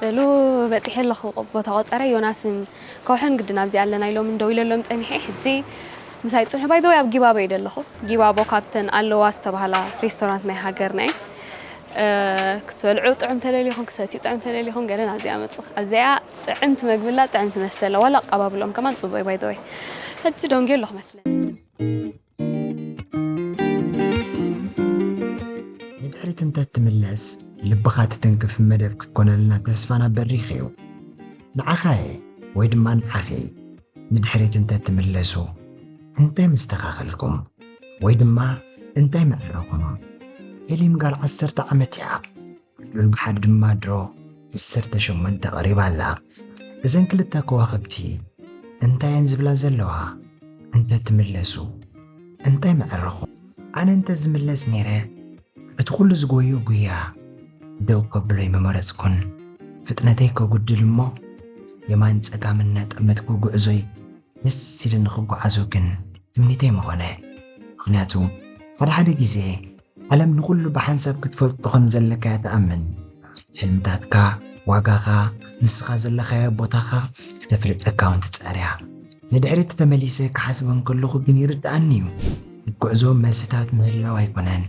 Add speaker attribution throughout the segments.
Speaker 1: በሉ በጺሐ ኣለኹ ቦታ ቆጸረ ዮናስን ከውሕን ግድን ኣብዚ ኣለና ኢሎምን ደዊለሎም ጸኒሐ ሕጂ ምሳይ ጽንሑ ባይ ዘወይ ኣብ ጊባቦ እየ ደለኹ ጊባቦ ካብተን ኣለዋ ዝተባህላ ሬስቶራንት ናይ ሃገርና እየ ክትበልዑ ጥዑም ተደሊኹም ክሰትዩ ጥዑም ተደሊኹም ገለ ናብዚኣ መጽእ ኣብዚኣ ጥዕምቲ መግቢ ኣላ ጥዕምቲ መስተ ኣላ ዋላ ኣቀባብልኦም ከማን ጽቡቅ እዩ ባይዘወይ ሕጂ ደንጊ ኣለኹ መስለ
Speaker 2: ንድሕሪት እንተትምለስ ልብኻ ትትንክፍ መደብ ክትኮነልና ተስፋና በሪኽ እዩ። ንዓኻ'የ ወይ ድማ ንዓኺ ንድሕሪት እንተትምለሱ እንታይ ምስተኻኸልኩም ወይ ድማ እንታይ ምዐረኹም? ኤሊም ጋል ዓሰርተ ዓመት እያ። ምምሓር ድማ ድሮ ዓሰርተ ሸሞንተ ቀሪባ ኣላ። እዘን ክልተ ከዋኽብቲ እንታይ እየን ዝብላ ዘለዋ? እንተ ትምለሱ እንታይ ምዐረኹም? ኣነ እንተ ዝምለስ ነይረ እቲ ኩሉ ዝጎይኡ ጉያ ደው ከብሎ'ዩ ምመረጽኩን። ፍጥነተይ ከጉድል እሞ የማን ጸጋም እናጠመትኩ ጉዕዞይ ደስ ኢሉኒ ክጓዓዞ ግን ትምኒተይ ምኾነ። ምኽንያቱ ሓደ ሓደ ግዜ። ዓለም ንኹሉ ብሓንሳብ ክትፈልጦ ከም ዘለካ'ያ ትኣምን። ሕልምታትካ፣ ዋጋኻ፣ ንስኻ ዘለኻዮ ቦታኻ ክተፍልጠካ'ውን ትጽዕር'ያ። ንድሕሪት ተመሊሰ ክሓስቦ እንከለኹ ግን ይርድኣኒ'ዩ። ኣብ ጉዕዞ መልስታት ምህላው ኣይኮነን፣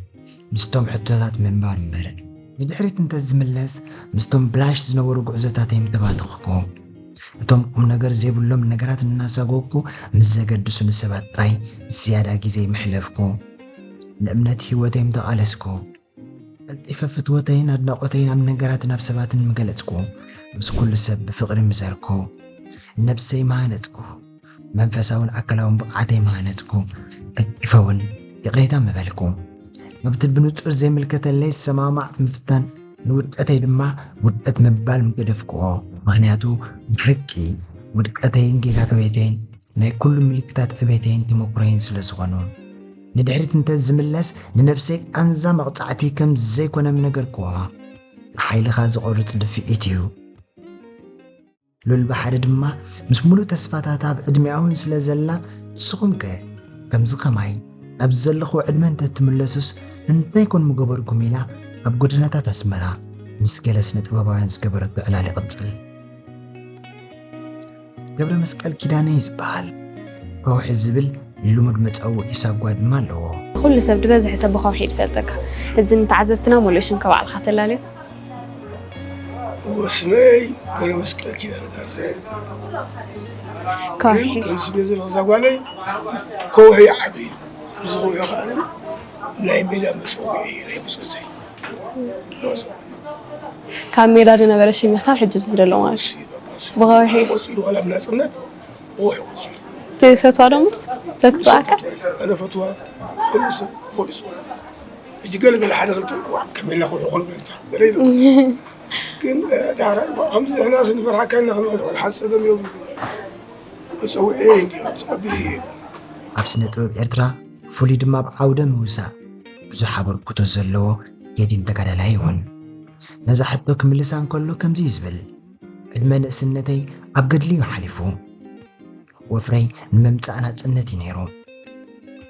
Speaker 2: ምስቶም ሕቶታት ምንባር እምበር። ንድሕሪት እንተ ዝምለስ ምስቶም ብላሽ ዝነበሩ ጉዕዞታተይ ምተባተኽኩ። እቶም ቁምነገር ዘይብሎም ነገራት እናሳጎግኩ ምስ ዘገድሱኒ ሰባት ጥራይ ዝያዳ ግዜይ ምሕለፍኩ። ንእምነት ህይወተይ ምተቓለስኩ፣ ቀልጢፈ ፍትወተይን ኣድናቖተይን ኣብ ነገራትን ኣብ ሰባትን ምገለጽኩ፣ ምስ ኩሉ ሰብ ብፍቕሪ ምዘርኩ፣ ነብሰይ ምሃነጽኩ፣ መንፈሳውን ኣካላውን ብቕዓተይ ምሃነጽኩ፣ ቀልጢፈ ውን ይቕሬታ ምበልኩ። ኣብቲ ብንጹር ዘይምልከተለይ ዝሰማማዕት ምፍታን፣ ንውድቀተይ ድማ ውድቀት ምባል ምገደፍክዎ። ምኽንያቱ ብሓቂ ውድቀተይን ጌጋ ዕብየተይን ናይ ኩሉ ምልክታት ዕቤተይን ተመኩሮይን ስለ ዝኾኑ። ንድሕሪት እንተ ዝምለስ ንነብሰይ ቃንዛ መቕጻዕቲ ከም ዘይኮነ ምነገርክዋ። ንሓይልኻ ዝቖርጽ ድፍኢት እዩ። ሉል ባሕሪ ድማ ምስ ምሉእ ተስፋታት ኣብ ዕድሜኣ ውን ስለ ዘላ ንስኹምከ ከምዚ ከማይ ናብዚ ዘለኽዎ ዕድመ እንተ ትምለሱስ እንታይ ኮን ምገበርኩም ኢላ ኣብ ጎደናታት ኣስመራ ምስ ገለ ስነ ጥበባውያን ዝገበረቶ ዕላል ይቕጽል። ገብረ መስቀል ኪዳነ ይዝበሃል። ከውሒ ዝብል ልሙድ መጸውዒ ሳጓ ድማ ኣለዎ። ኩሉ ሰብ ዝበዝሐ
Speaker 1: ሰብ ብከውሒ እዩ ዝፈልጠካ እዚ ንተዓዘብትና ሙሉእ ሽምካ ባዕልካ ተላልዮ። እወ ስመይ ገብረመስቀል ኪዳነ
Speaker 3: ካሕሳይ ይበሃል። ከውሒ
Speaker 1: ግን ከም ስሜ ዘለኹ ዛጓለይ
Speaker 3: ከውሒ ይዓበ ኢሉ እዚ ከውሒ ከኣ ናይ ሜዳ መጸውዒ ናይ ብጾተይ
Speaker 1: ካብ ሜዳ ዝነበረ ሽም መሳብ ሕጂ ምስ ዘሎ ማለት ብኸውሒ ቆጺሉ ዋላ
Speaker 3: ብናጽነት ብኸውሒ ቆጺሉ ትፈትዋ ዶ እሞ
Speaker 1: ሰብ ክትጽኣካ ኣነ ፈትዋ
Speaker 3: ኩሉ ሰብ ብኸውሒ ይጽዋዕ ሕጂ ገለ ገለ ሓደ ክልተ ዋእ ከመይና ከውሒ ኮን በልታ ገለ ይብሉ ግን ዳሕራይ እኳ ከምዚ ንሕና ስንፈርሓካ ኢና ክንብል ዋላ ሓንቲ ጸገም የብሉን መጸውዒ እንድዩ ተቐቢለዮ እየ ኣብ ስነ
Speaker 2: ጥበብ ኤርትራ ብፍሉይ ድማ ኣብ ዓውደ ምውሳእ ብዙሕ ኣበርክቶ ዘለዎ ገዲም ተጋዳላይ ይኹን ነዛ ሕቶ ክምልሳ እንከሎ ከምዚ እዩ ዝብል፣ ዕድመ ንእስነተይ ኣብ ገድሊ እዩ ሓሊፉ። ወፍረይ ንመምጻእ ናጽነት እዩ ነይሩ።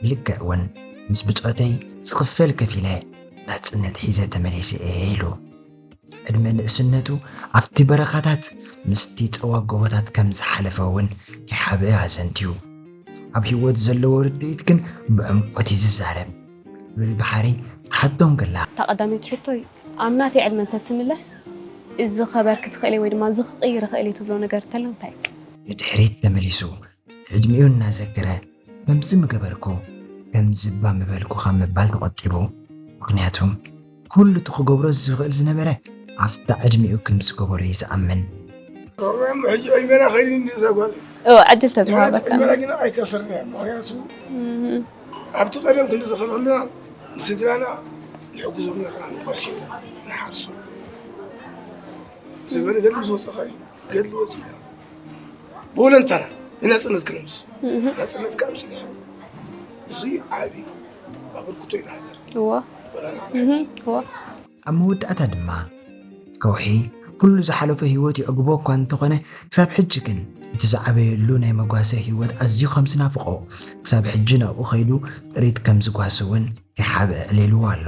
Speaker 2: ብልክዕ እውን ምስ ብጾተይ ዝኽፈል ከፊለ ናጽነት ሒዘ ተመሊሰ እየ ኢሉ። ዕድመ ንእስነቱ ኣብቲ በረኻታት ምስቲ ጸዋግ ጎቦታት ከም ዝሓለፈ እውን ከይሓብአ ኣዘንትዩ። ኣብ ህይወት ዘለዎ ርድኢት ግን ብዕምቈት እዩ ዝዛረብ። ሉል ብሓሪ ትሓቶ እንክላ። እታ ቀዳመይቲ ሕቶይ
Speaker 1: ኣብ ናተይ ዕድመ እንተ ትምለስ እዚ ክኸበርኪ ትኽእሊ ወይ ድማ እዚ ክቕይር እኽእል እየ ትብሎ ነገር እንተሎ እንታይ እዩ? ንድሕሪት
Speaker 2: ተመሊሱ ዕድሚኡ እናዘከረ ከምዚ ምገበርኩ ከምዚባ ምበልኩ ካብ ምባል ተቖጢቡ። ምኽንያቱ ኩሉ እቲ ክገብሮ ዝኽእል ዝነበረ ኣብታ ዕድሚኡ ከም ዝገበሮ እዩ ዝኣምን። እሞ ሕጂ
Speaker 3: ዕድሜና ከይዱ እንድዩ እዛ ጓል እዎ ዕድል ተዝሃበካ
Speaker 1: ዕድሜና ግና ኣይከሰርና
Speaker 3: እያ ምክንያቱ ኣብቲ ቀደም ክንዲ ዝኸልክሉና ንስድራና ንሕግዞም ነርና ንጓስዮ ንሓርሶ ዝበለ ገድሊ ዝወፀ እዩ ገድሊ
Speaker 1: ወፂእና ብወለንታና ንናፅነት
Speaker 2: ክነምስ ናፅነት ካብ ስኒያ እዚ ዓብዪ ኣበርክቶ ኢና ሃገር ኣብ መወዳእታ ድማ ከውሒ ኩሉ ዝሓለፎ ህይወት የዕግቦ እኳ እንተኾነ ክሳብ ሕጂ ግን እቲ ዝዓበየሉ ናይ መጓሰ ህይወት ኣዝዩ ከም ዝናፍቖ ክሳብ ሕጂ ናብኡ ከይዱ ጥሪት ከም ዝጓሲ እውን
Speaker 3: ከይሓብአ
Speaker 2: ዕሊልዎ
Speaker 3: ኣሎ።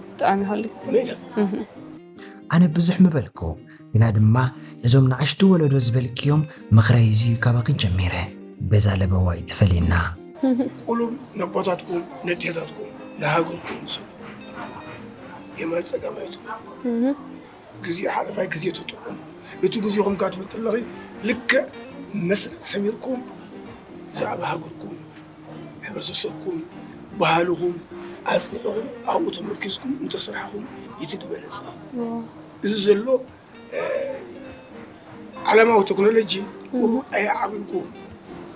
Speaker 3: ብጣዕሚ
Speaker 1: ሃልኪ
Speaker 2: ኣነ ብዙሕ ምበልኩ ግና ድማ ነዞም ንኣሽቱ ወለዶ ዝበልክዮም ምኽረይ እዚዩ ካባኺ ጀሚረ በዛ ለበዋ ኣይትፈለየና። ቁሉብ
Speaker 3: ነቦታትኩም ነዴታትኩም ንሃገርኩም ስሉ የማን ጸጋም ኣይትኩኑ። ግዜ ሓለፋይ ግዜ ትጥዕሙ እቲ ግዜኹም ካብ ትብል ከለኺ ልክዕ መስርዕ ሰሚርኩም ብዛዕባ ሃገርኩም ሕብረተሰብኩም ባህልኹም ኣፅኒዕኹም ኣብኡ ተመርኪዝኩም እንተሰራሕኹም እቲ ዝበለፀ እዩ እዚ ዘሎ ዓለማዊ ቴክኖሎጂ ቁሩ ኣየዓብልኩም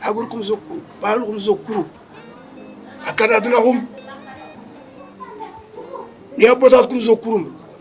Speaker 3: ሃገርኩም ዘኩሩ ባህልኹም ዘኩሩ ኣከዳድናኹም ንኣቦታትኩም ዘኩሩ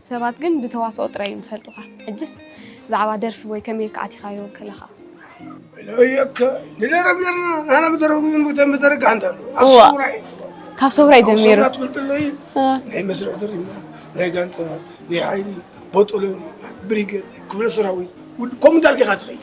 Speaker 1: ሰባት ግን ብተዋስኦ ጥራይ እዮም ዝፈልጡኻ ሕጅስ ብዛዕባ ደርፊ ወይ ከመይ ኢልካ ኣቲኻዮ ከለኻ።
Speaker 3: እለወየከ ንደረፍ ነርና ናህና ብደረፍ ግን ቦታ መደረግ ኣንተ ኣሎ ኣብ እዋ። ሰውራ እዩ ካብ ሰውራይ
Speaker 1: ኣብ ጀሚሩ ሰውራ ትፈልጥለይ
Speaker 3: እ፣ ናይ መስርዕ ድሪና ናይ ጋንታ ናይ ሓይሊ ቦጦሎኒ ብሪገድ ክፍለ ሰራዊት ውድ ከምኡ እንዳልካ ኢኻ ትኸይድ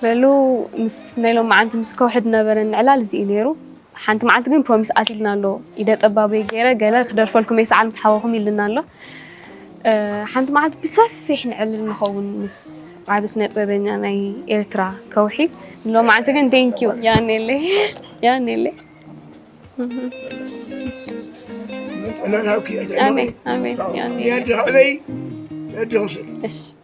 Speaker 3: በሉ
Speaker 1: ምስ ናይ ሎማዓንቲ ምስ ከውሒ ዝነበረኒ ዕላል እዚ እዩ ነይሩ። ሓንቲ መዓልቲ ግን ፕሮሚስ ኣትልና ኣሎ ኢደ ጠባበይ ገይረ ገለ ክደርፈልኩም እየ ሰዓል ምስ ሓወኹም ኢልና ኣሎ ሓንቲ መዓልቲ ብሰፊሕ ንዕልል ንኸውን ምስ ዓቢ ስነ ጥበበኛ ናይ ኤርትራ ከውሒ ንሎም መዓልቲ ግን ቴንኪዩ ያኔለይ ያኔለይ ኣሜን ኣሜን
Speaker 3: ያኔለይ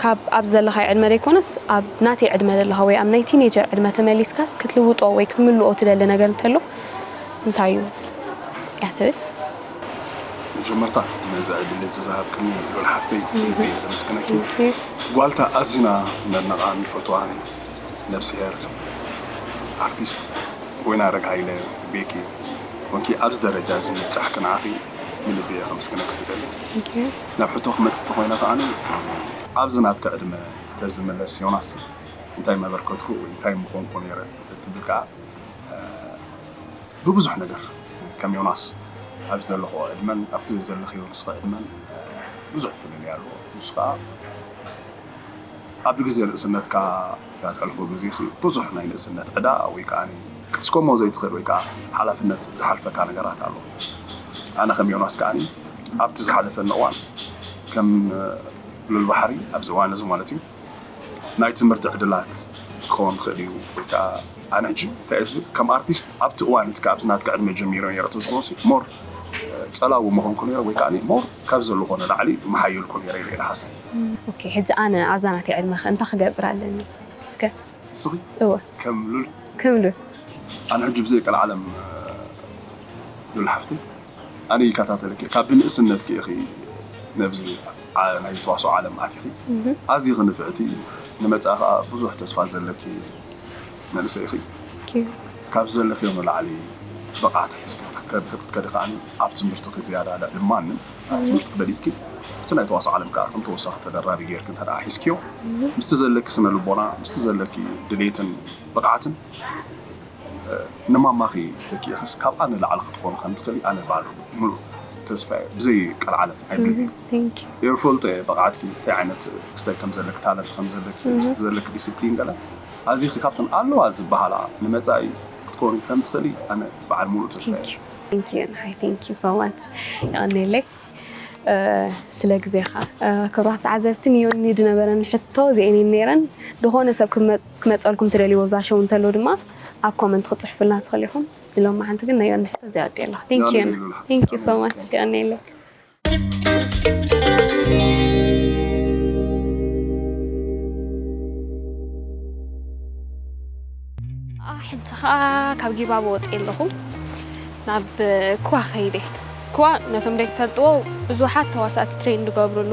Speaker 1: ካብ ኣብዚ ዘለኻዮ ዕድመ ዘይኮነስ ኣብ ናተይ ዕድመ ዘለኻ ወይ ኣብ ናይ ቲኔጀር ዕድመ ተመሊስካስ ክትልውጦ ወይ ክትምልኦ ትደሊ ነገር እንተሎ እንታይ እዩ እያ ትብል።
Speaker 4: መጀመርታ ነዚ ዕድል እዚ ዝሃብክኒ ሉል ሓፍተይ ብልቢ እየ ዘመስግነኪ። ጓልታ ኣዚና ነድንቓን ንፈትዋን ነብስሄር ኣርቲስት ወይናረግ ሃይለ፣ ቤኪ፣ ኮንኪ ኣብዚ ደረጃ እዚ ምብጻሕኪ ንዓኺ ብልቢ እየ ከመስግነኪ ዝደሊ ናብ ሕቶ ክመፅእ ተኮይነ ከኣ ኣብዚ ናትኪ ዕድመ ተዝምለስ ዮናስ እንታይ መበርከትኩ ወይ እንታይ ምኮንኩ ነይረ ተትብል ከኣ ብብዙሕ ነገር ከም ዮናስ ኣብዚ ዘለክኦ ዕድመን ኣብቲ ዘለክዮ ንስኪ ዕድመን ብዙሕ ፍልልይ ኣሎ ንሱ ከኣ ኣብቲ ግዜ ንእስነትካ እተሕልፎ ግዜሲ ብዙሕ ናይ ንእስነት ዕዳ ወይ ከኣ ክትስከሞ ዘይትኽእል ወይ ከኣ ሓላፍነት ዝሓልፈካ ነገራት ኣሎ። ኣነ ከም ዮናስ ከኣ ኣብቲ ዝሓለፈኒ እዋን ከም ሉል ባሕሪ ኣብዚ እዋንዚ ማለትዩ ናይ ትምህርቲ ዕድላት ክኸውን ይኽእል እዩ ወይ ከኣ ኣነ ሕጂ እንታይ እየ ዝብል ከም ኣርቲስት ኣብቲ እዋን እቲ ካብዚ ናትካ ዕድመ ጀሚረ ነይረ ተዝኾንሲ ሞር ጸላዊ ምኾንኩ ነይረ ወይ ከኣ ሞር ካብዚ ዘለኾ ንላዕሊ ምሓየልኩ ነይረ ኢለ እየ ዝሓስብ። ኦኬ ሕጂ ኣነ
Speaker 1: ኣብዛ ናተይ ዕድመ'ኸ እንታይ ክገብር ኣለኒ እስከ? ንስኺ? እወ።
Speaker 4: ከም ሉል?
Speaker 1: ከም ሉል። ኣነ ሕጂ ብዘይ ቀልዓለም
Speaker 4: ሉል ሓፍተይ ኣነ ይከታተለኪ ካብ ብንእስነትኪ ኢኺ ነብዚ ናይ ተዋስኦ ዓለም ኣቲኺ ኣዚኺ ንፍዕቲ ንመጻኢ ከኣ ብዙሕ ተስፋ ዘለኪ መንእሰይ ኢኺ
Speaker 1: ካብዚ ዘለኽዮ
Speaker 4: ንላዕሊ ብቕዓት ሒዝኪ ክትከዲ ከኣ ኣብ ትምህርትኺ ዝያዳ ልዕሊ ማንም ኣብ ትምህርትኪ በሊፅኪ ኣብቲ ናይ ተዋስኦ ዓለም ከዓ ከም ተወሳኺ ተደራቢ ገይርኪ እንተድኣ ሒዝክዮ ምስቲ ዘለኪ ስነ ልቦና ምስቲ ዘለኪ ድሌትን ብቕዓትን ንማማኺ ተኪእኽስ ካብኣ ንላዕሊ ክትኾኒ ከም ትኽእሊ ኣነ ባዕሉ ሙሉእ ተስፋ እየ ብዘይ ቀልዓለም ኣይብለክን እየ እፈልጦ
Speaker 1: እየ ብቕዓትኪ
Speaker 4: እንታይ ዓይነት ክስታይ ከም ዘለኪ ታለንት ከም ዘለኪ ምስቲ ዘለኪ ዲስፕሊን ገለ ኣዚኺ ካብተን ኣለዋ ዝበሃላ ንመፃኢ ክትኮኒ ከም ትኽእሊ ኣነ በዓል ሙሉእ ተስፋ እየ ቴንኪዩ ንዓይ
Speaker 1: ቴንኪዩ ሶ ማች የቐኔለይ ስለ ግዜኻ። ክብራት ተዓዘብቲ ንዮኒ ዝነበረን ሕቶ እዚኤን እየን ነይረን። ዝኾነ ሰብ ክመፀልኩም ትደልይዎ ኣብዛ ሾው እንተሎ ድማ ኣብ ኮመንት ክትፅሕፉልና ትኽእሉ ኢኹም። ንሎማዓንቲ ግን ናይ ዮኒ ሕቶ እዚኣ ወዲኤ ኣለኹ። ቴንኪዩ ዮኒ ቴንኪዩ ሶ ማች የቐኔለይ። ሕጂ ከዓ ካብ ጊባቦ ወፅየ ኣለኹ ናብ ክዋ ከይደ ክዋ ነቶም ዘይትፈልጥዎ ብዙሓት ተዋሳእቲ ትሬን ዝገብርሉ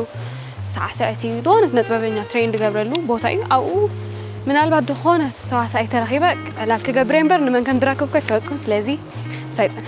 Speaker 1: ሳዕስዕቲ ዝኾነ ስነ ጥበበኛ ትሬን ዝገብረሉ ቦታ እዩ ኣብኡ ምናልባት ዝኾነ ተዋሳኢ ተረኺበ ዕላል ክገብረ እምበር ንመን ከም ዝረክብኮ ኣይፈለጥኩን ስለዚ ምሳይ ፅንሑ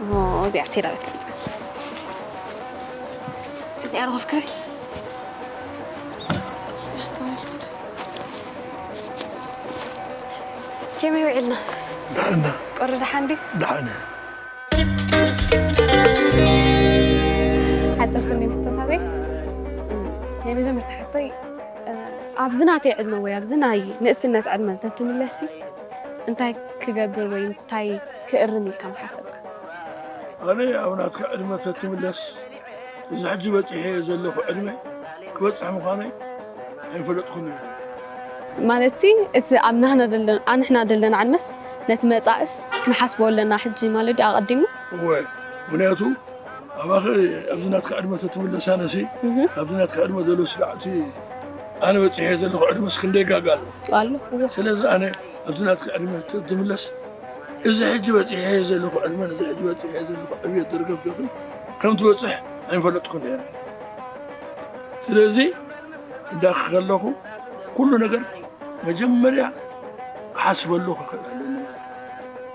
Speaker 1: اه ኦዚኣ ሴራ ቤት ትምፃ እዚኣ ረኸፍ ክረ ከመይ ውዒልና ደሕና
Speaker 3: ቁሪ ደሓን ድዩ
Speaker 1: ደሓን ሓፀርቲ እንዲ ሕቶታተይ ናይ መጀመርታ ሕቶይ ኣብዚ ናተይ ዕድመ ወይ ኣብዚ ናይ ንእስነት ዕድመ እንተትምለሲ እንታይ ክገብር ወይ እንታይ ክእርም ኢልካ ምሓሰብካ? ኣነ
Speaker 3: ኣብ ናትካ ዕድመ ተትምለስ እዚ ሕጂ በጺሐዮ ዘለኹ ዕድመ ክበጽሕ ምዃነይ ኣይምፈለጥኩን ነይረ። ማለትሲ
Speaker 1: እቲ ኣብ ናህና ደለና ኣንሕና ደለና ዕድመስ ነቲ መጻእስ ክንሓስቦ ኣለና ሕጂ ማለት ድዩ ኣቐዲምና? እወ ምኽንያቱ
Speaker 3: ኣባኺ ኣብዚ ናትካ ዕድመ ተትምለስ ኣነሲ ኣብዚ ናትካ ዕድመ ዘሎ ስጋዕቲ ኣነ በፂሐ ዘለኹ ዕድመስ ክንደይ ጋጋ ኣሎ
Speaker 1: ስለዚ ኣነ ኣብዚ
Speaker 3: ናትካ ዕድመ ተትምለስ እዚ ሕጂ በፂሐ ዘለኹ ዕድመን እዚ ሕጂ በፂሐ ዘለኹ ዕብየት ደርገፍገፍን ከም ትበፅሕ ኣይፈለጥኩን ነይረ ስለዚ እንዳኺ ከለኹ ኩሉ ነገር መጀመርያ ሓስበሉ ክኽእል ኣለኒ ማለት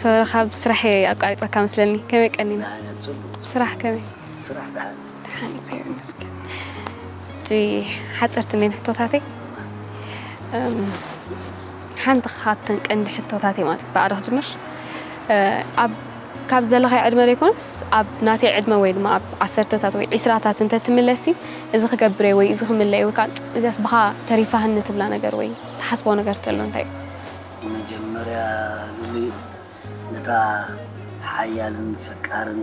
Speaker 1: ሰበረ ካብ ስራሕ እየ ኣቋሪፀካ መስለኒ ከመይ ቀኒና ስራሕ ከመይ ስራሕ
Speaker 5: ደሓን ደሓን
Speaker 1: እግዚኣብሔር ይመስገን እጂ ሓፀርቲ እኔን ሕቶታተይ እም፣ ሓንቲ ካብተን ቀንዲ ሕቶታተይ ማለት እዩ ብኣዶ ክጅምር እ፣ ኣብ ካብ ዘለኻዮ ዕድመ ዘይኮነስ ኣብ ናተይ ዕድመ ወይ ድማ ኣብ ዓሰርተታት ወይ ዒስራታት እንተትምለሲ እዚ ክገብር እየ ወይ እዚ ክምለ እየ ወይ ከኣ እዚኣስ ብኻ ተሪፋትኒ ትብላ ነገር ወይ ትሓስቦ ነገር ተሎ እንታይ እዩ? መጀመርያ
Speaker 5: ሉሊ ነታ ሓያልን ፈቃርን።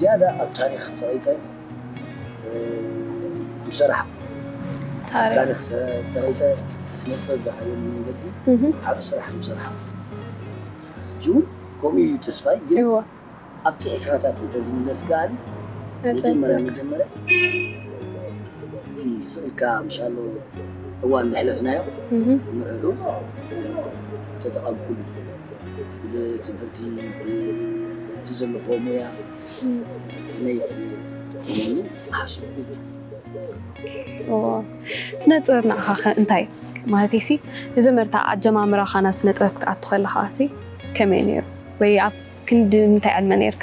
Speaker 5: ዝያዳ ኣብ ታሪኽ ጸቒጠ ምሰራሕኩ። ኣብ ታሪኽ ጸቒጠ ስነጥበብ ዝዓበየሉ መንገዲ ዓቢ ስራሕ ምሰራሕኩ። ሕጂውን ከምኡ ኢዩ ተስፋይ ግን ኣብቲ
Speaker 1: ዕስራታት
Speaker 5: እንተዝምለስ ከኣ መጀመርያ መጀመርያ እቲ ስቕ ኢልካ ምሻሎ እዋን ዘሕለፍናዮ ንዕዑ ምተጠቐምኩሉ። ብትምህርቲ ብእቲ ዘለክዎ ሞያ ከመይ ክከውን ትሓስቡ
Speaker 1: ኣለኩም። ስነ ጥበብ ንዓካ ከ እንታይ እዩ ማለተይ ሲ መጀመርታ ኣጀማምራካ ናብ ስነ ጥበብ ክትኣቱ ከለካ ሲ ከመይ እዩ ነይሩ ወይ ኣብ ክንዲ ምንታይ ዕድመ ነይርካ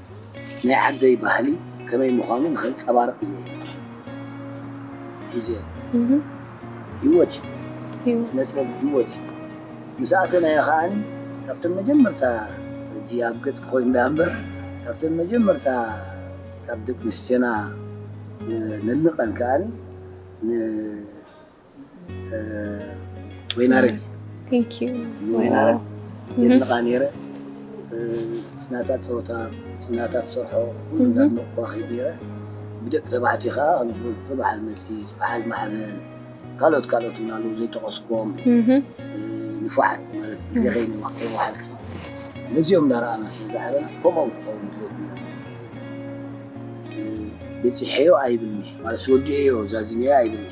Speaker 5: ናይ ዓደይ ባህሊ ከመይ ምዃኑ ንኸንጸባርቕ ኢለ እየ ሒዘዮ። ህይወት እዩ። ስነጥበብ ህይወት እዩ። ምስ ኣተናዮ ከኣ ካብተን መጀመርታ ሕጂ ኣብ ገጽኪ ኮይኑ ደኣ እምበር ካብተን መጀመርታ ካብ ደቅንስትዮና ነንቀን ከኣ ን ወይናረግ
Speaker 1: ወይናረግ
Speaker 5: የድንቓ ነይረ ስናታ ፀወታ ስናታ ትሰርሖ ኩሉ እንዳድነቕኩ ከይድ ነይረ ብደቂ ተባዕትዮ ከዓ ኣብዝበልኩ በዓል መቲስ በዓል ማዕበል ካልኦት ካልኦት እውን ኣለዉ ዘይጠቐስኩም ንፉዓት ማለት ግዜ ከይወሓልኪ ነዚኦም እንዳረኣና ስለዝዓበና ከምኦም ክኸውን ድሌት ነይሩ በፂሐዮ ኣይብልኒ ማለት ወዲኤዮ ዛዚመዮ ኣይብልኒ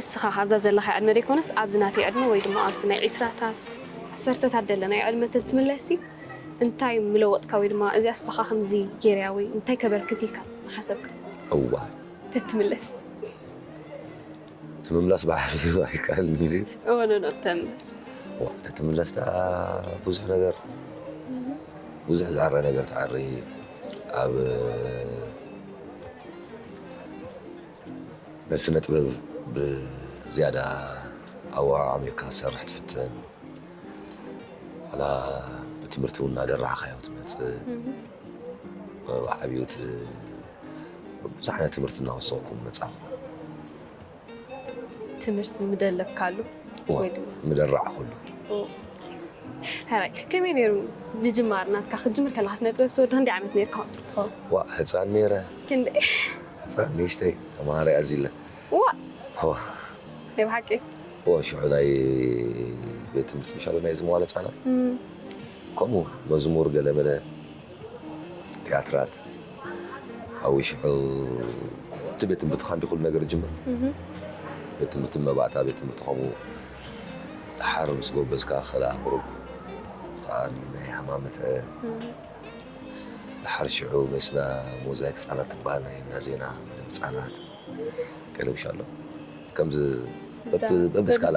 Speaker 1: እስኻ ኣብዛ ዘለኻ ዕድመ ዘይኮነስ ኣብዚ ናተይ ዕድመ ወይ ድማ ኣብዚ ናይ ዒስራታት ዓሰርተታት ዘለና ዕድመ ትምለሲ እንታይ ምለወጥካ ወይ ድማ እዚኣስ በኻ ከምዚ ጌርያ ወይ እንታይ ከበርክት ኢልካ ሓሰብካ እዋ
Speaker 6: ተትምለስ ትምምላስ ባሕሪ ኣይከኣልን እዩ እወነኖ ተምር
Speaker 1: ተትምለስ
Speaker 6: ደኣ ብዙሕ ነገር ብዙሕ ዝዕረ ነገር ትዕሪ ኣብ ስነ ጥበብ ብዝያዳ ኣዋሃ ዓሚርካ ዝሰርሕ ትፍትን ላ ብትምህርቲ እውን እናደራዕካዮ ትመፅእ ዓብዩት ብዙሕ ዓይነት ትምህርቲ እናወሰኹኩም ምፃኹ
Speaker 1: ትምህርቲ ምደለብካሉ ወይ ድማ
Speaker 6: ምደራዕኹሉ
Speaker 1: ሕራይ ከመይ ነይሩ ምጅማር ናትካ ክትጅምር ከለካ ስነ ጥበብ ዝወዳ እንዲ ዓመት ነርካ ትኸውን ዋ ህፃን
Speaker 6: ነይረ ክንደ
Speaker 1: ህፃን
Speaker 6: ንእሽተይ ተምሃሪ ኣዚለ ዋ ናይ
Speaker 1: ብሓቂ ዋ ሽዑ ናይ
Speaker 6: ቤት ትምህርቲ ምሻለ ናይ ዝመዋለ ህፃናት ከምኡ መዝሙር ገለመለ ቲያትራት ሓዊ ሽሑ እቲ ቤት ትምህርቲ ካንዲ ኩሉ ነገር ጅምር ቤት ትምህርቲ መባእታ ቤት ትምህርቲ ከምኡ ድሓር ምስ ጎበዝካ ከላ ቁሩብ ከዓ ናይ ሃማመተ ድሓር ሽዑ መስና ሞዛይክ ህፃናት ትበሃል ናይ እንዳ ዜና መደብ ህፃናት ቀለብሻ ኣሎ ከምዚ በብስካላ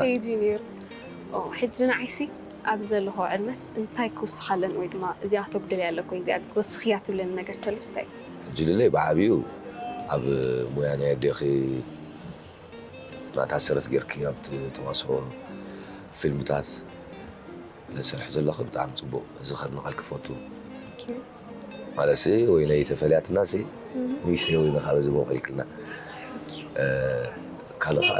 Speaker 6: ሕጂ
Speaker 1: ንዓይሲ ኣብዚ ዘለኹዎ ዕድመስ እንታይ ክውስኻ ኣለኒ ወይ ድማ እዚኣ ክተጉድልያ ኣለኪ ወይ እዚኣ ወስኽያ ትብለኒ ነገር ተሎስ እንታይ እዩ? ጅልለይ ብዓቢኡ
Speaker 6: ኣብ ሞያ ናይ ኣዴኺ ናታ ሰረት ጌርኪ ኣብ ተዋስኦ ፊልምታት ትሰርሒ ዘለኺ ብጣዕሚ ጽቡቕ እዚ ከድንቐልኪ ክፈቱ ማለትሲ ወይነይ ተፈልያትናሲ ንእሽተይ ወይኒ ካብ እዚ ቦቒልክልና ካልእ ከኣ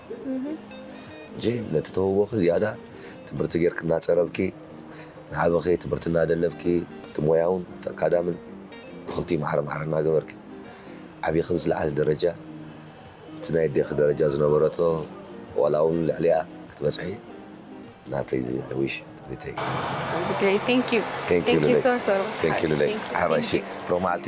Speaker 6: ሕጂ ነቲ ተውቦኺ ዝያዳ ትምህርቲ ጌርኪ እናጸረብኪ፣ ንዓበኺ ትምህርቲ እናደለብኪ፣ እቲ ሞያውን እቲ ኣካዳምን ብኽልቲኡ ማዕረ ማዕረ እናገበርኪ፣ ዓቢኺ ምስ ዝለዓለ ደረጃ፣ እቲ ናይ ኣዴኺ ደረጃ ዝነበረቶ ዋላውን ልዕሊኣ ክትበጽሒ ናተይ ዝዊሽ፣ ትምኒተይ።
Speaker 1: Thank
Speaker 6: you
Speaker 1: Lulay ሓባይ
Speaker 6: እሺ
Speaker 1: ሎማዓልቲ።